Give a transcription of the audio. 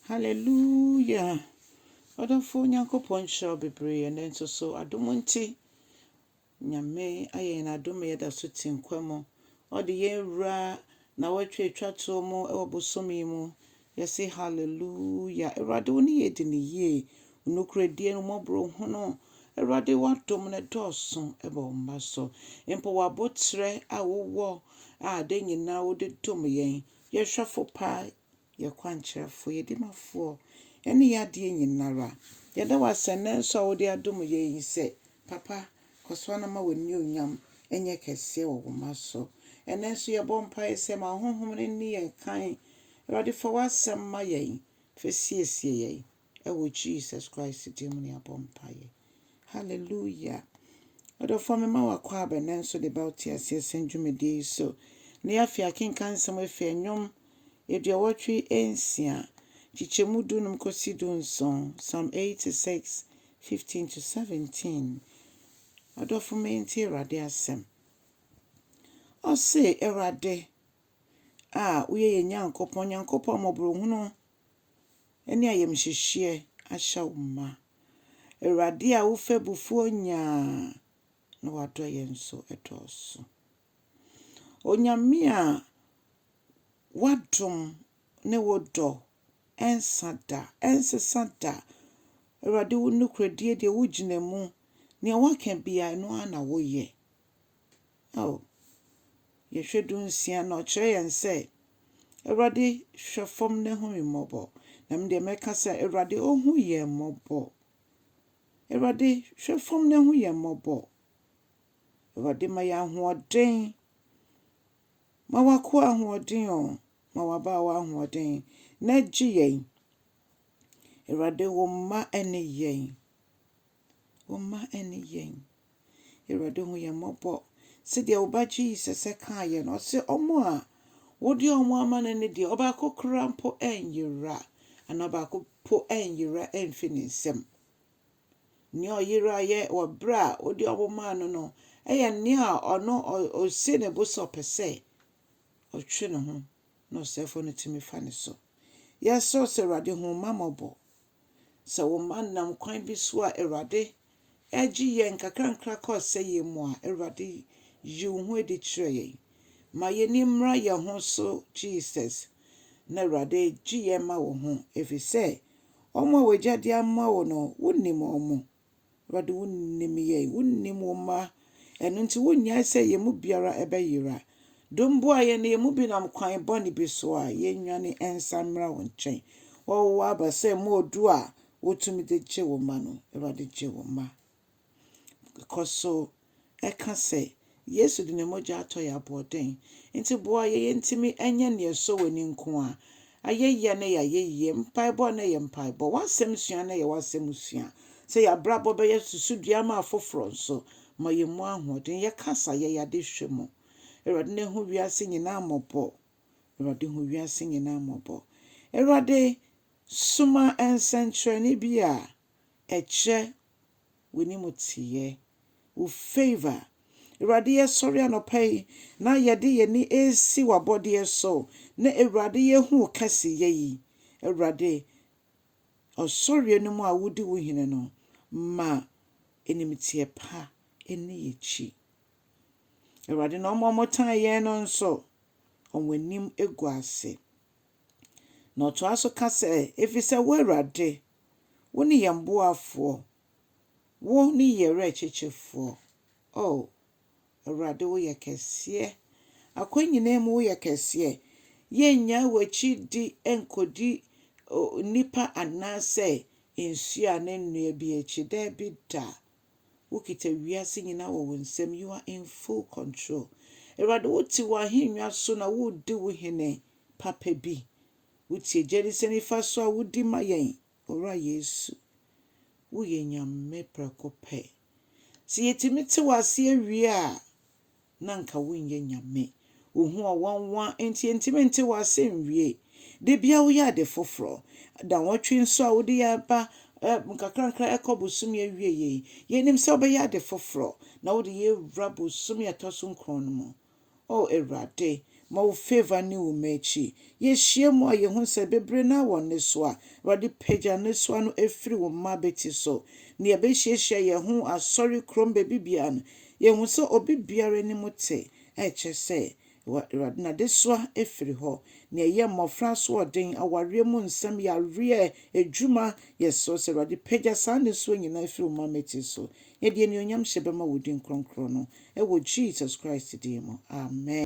Hallelujah! Ɔdɔfoɔ Nyankopɔn nhyira wo bebree ɛnnɛ nso so adom nti Nyame ayɛ yɛn adom yɛda so te nkwa mu ɔde yɛn wura na wɔatwa atwa toɔ mu ɛwɔ bosom yi mu yɛse hallelujah Awurade wo ne yɛ di ne yie onukuredie no mɔborɔ hunu Awurade w'adom no dɔɔso ɛbɔ wo mma so mpo w'abotrɛ a wowɔ a de nyinaa wode dom yɛn yɛhwɛfo paa Yɛ kwankyerɛfoɔ, yɛ dimafoɔ, ne yɛ adeɛ nyinara. Yɛda wo asɛ nnɛ nso a wode adom yɛn yi sɛ, Papa, kɔ so ara na ma w'anuonyam nyɛ kɛseɛ wɔ wo mma so. Ɛnnɛ nso yɛbɔ mpaeɛ sɛ ma wo Honhom no nni yɛn kan. Awurade, fa w'asɛm ma yɛn, fa siesie yɛn. Ɛwɔ Jesus Christ din mu na yɛabɔ mpaeɛ. Hallelujah. Ɔdɔfoɔ mema wo akɔ abɛ na nso de ba wo te aseɛ sɛn dwumadie yi so. Na yɛafe akenkan nsɛm afi ɛnwom aduɔwɔtwe nsia, kyekyɛmu du num kɔsi du nson, Psalm 86, 15 to 17. Ɔdɔfo me nti Awurade asɛm. Ɔse, Awurade a woyɛ yɛn Nyankopɔn, Nyankopɔn mmɔborɔhunu ne ayamhyehyeɛ ahyɛ wo mma. Awurade a wo fɛbufoɔ nyaa na wadɔ yɛn nso dɔɔso. Onyame a wadom ne wo dɔ ɛnsa da, ɛnsesa da. Awurade wo nokorɛdie deɛ wogyina mu, deɛ woaka biara ɛno ara na woyɛ. Ao, yɛhwɛ dunsia na ɔkyerɛ yɛn sɛ, Awurade, hwɛ fam na hu me mmɔbɔ. Na me deɛ mɛka sɛ, Awurade, ɔhu yɛn mmɔbɔ. Awurade, hwɛ fam na hu yɛn mmɔbɔ. Awurade, ma yɛn ahoɔden. Ma w'akoa ahoɔden o, ma w'abaawa ahoɔden, na gye yɛn. Awurade, wo mma ne yɛn. Wo mma ne yɛn. Awurade hu yɛn mmɔbɔ. Sɛdeɛ wo ba Jesus kaeɛ no, ɔse wɔn a wode wɔn ama no no deɛ, ɔbaako koraa mpo ɛnyera, anaa ɔbaako mpo ɛnyera ɛmfi ne nsam. Nea ɔyeraeɛ wɔ berɛ a wode wɔn maa no no yɛ nea a ɔno ɔsi ne bo sɛ ɔpɛ sɛ ɔtwe ne ho na ɔsɛefoɔ no tumi fa ne so. Yɛsrɛ wo sɛ Awurade hu wo mma mmɔbɔ. Sɛ wo mma nam kwan bi so a Awurade regye yɛn nkakrankakra kɔ ɔsɛeɛ mu a, Awurade yi wo ho adi kyerɛ yɛn. Ma yɛn ani mmra yɛn ho so Jesus, na Awurade gye yɛn ma wo ho, ɛfiri sɛ wɔn a w'Agya de ama wo no, wonim wɔn. Awurade, wonim yɛn, wonim wo mma. Ɛno nti, wonnyae sɛ yɛn mu biara bɛyera. Domboa yɛn na yɛn mu binom kwan bɔne bi so a, yɛnnwane nsan mmra wo nkyɛn. Wɔwɔ wo aba sɛ mma odu a wotumi de gye wo mma no. Awurade, gye wo mma. Kɔ so ɛka sɛ, Yesu de ne mogya atɔ yɛn aboɔden. Enti boa yɛn yentumi nyɛ nea ɛsɔ w'ani nko ara. Ayɛyie a na ɛyɛ ayɛyie, mpaebɔ a na ɛyɛ mpaebɔ, w'asɛm sua a na ɛyɛ w'asɛm sua. Sɛ yɛn abrabɔ bɛyɛ susudua ama afoforɔ nso, ma yɛn mu ahoɔden. Yɛ kasa, yɛ yɛn adehwɛ mu. Awurade na hu wiase nyinaa mmɔbɔ. Awurade hu wiase nyinaa mmɔbɔ. Awurade, soma nsɛnkyerɛnne bi a ɛkyerɛ w'animteeɛ, wo favour. Awurade yɛsɔre anɔpa yi na yɛde yɛn ani resi w'abɔdeɛ so na Awurade yɛhu wo kɛseyɛ yi. Awurade, ɔsɔreɛ no mu a wodi wo hene no, ma animteɛ pa nni yɛakyi. Awurade na wɔn a wɔtan yɛn no nso, wɔn anim gu ase. Na ɔtoa so ka sɛ, ɛfiri sɛ wo Awurade Wo ne yɛn boafoɔ, Wo ne yɛn werɛkyekyefoɔ, Oh, Awurade Wo yɛ kɛseɛ, Akwan nyinaa mu Wo yɛ kɛseɛ, Yɛnnyaa W'akyi di nkɔdi nnipa anaasɛ nsuo anaa nnua bi akyi, daabi da, Wo kita wiase nyinaa wɔ Wo nsam, You are in full control, Awurade Wo te W'ahennwa so na Wo redi Wo hene papa bi, Wotie gye ne sɛ nifa so a wodi ma yɛn, Owura Yesu. Woyɛ Nyame prɛko pɛ. Sɛ yɛtumi te w'ase awie a, na anka wonyɛ Nyame. Wo ho ɔwanwa nti yɛntumi nte w'ase nwie. Da biara woyɛ ade foforɔ. Nnawɔtwe nso a wode yɛn ba nkakrankakra ɛkɔ bosome awieɛ yi, yɛnim sɛ wobɛyɛ ade foforɔ na wode yɛn awura bosome a ɛtɔ so nkron no mu. O Awurade, ma wo favor ne wo m'akyi. Yɛhyia mu a yɛhu sɛ bebre no awɔ nnesoa. Awurade pagya nnesoa no firi wo mma abati so. Nea ɛbɛhyiahyia yɛn ho asɔre kurom baabi biara no, yɛhu sɛ obi biara anim te, a ɛkyɛ sɛ, Awurade, n'adesoa firi hɔ. Nea ɛyɛ mmɔfra asoɔden, awareɛ mu nsɛm, yareɛ, adwuma, yɛsrɛ wo sɛ, Awurade, pagya saa nnesoa nyinaa firi wo mma mmati so. Yɛde anuonyam hyɛ bɛma wo din kronkron no, wɔ Jesus Christ din mu, amen.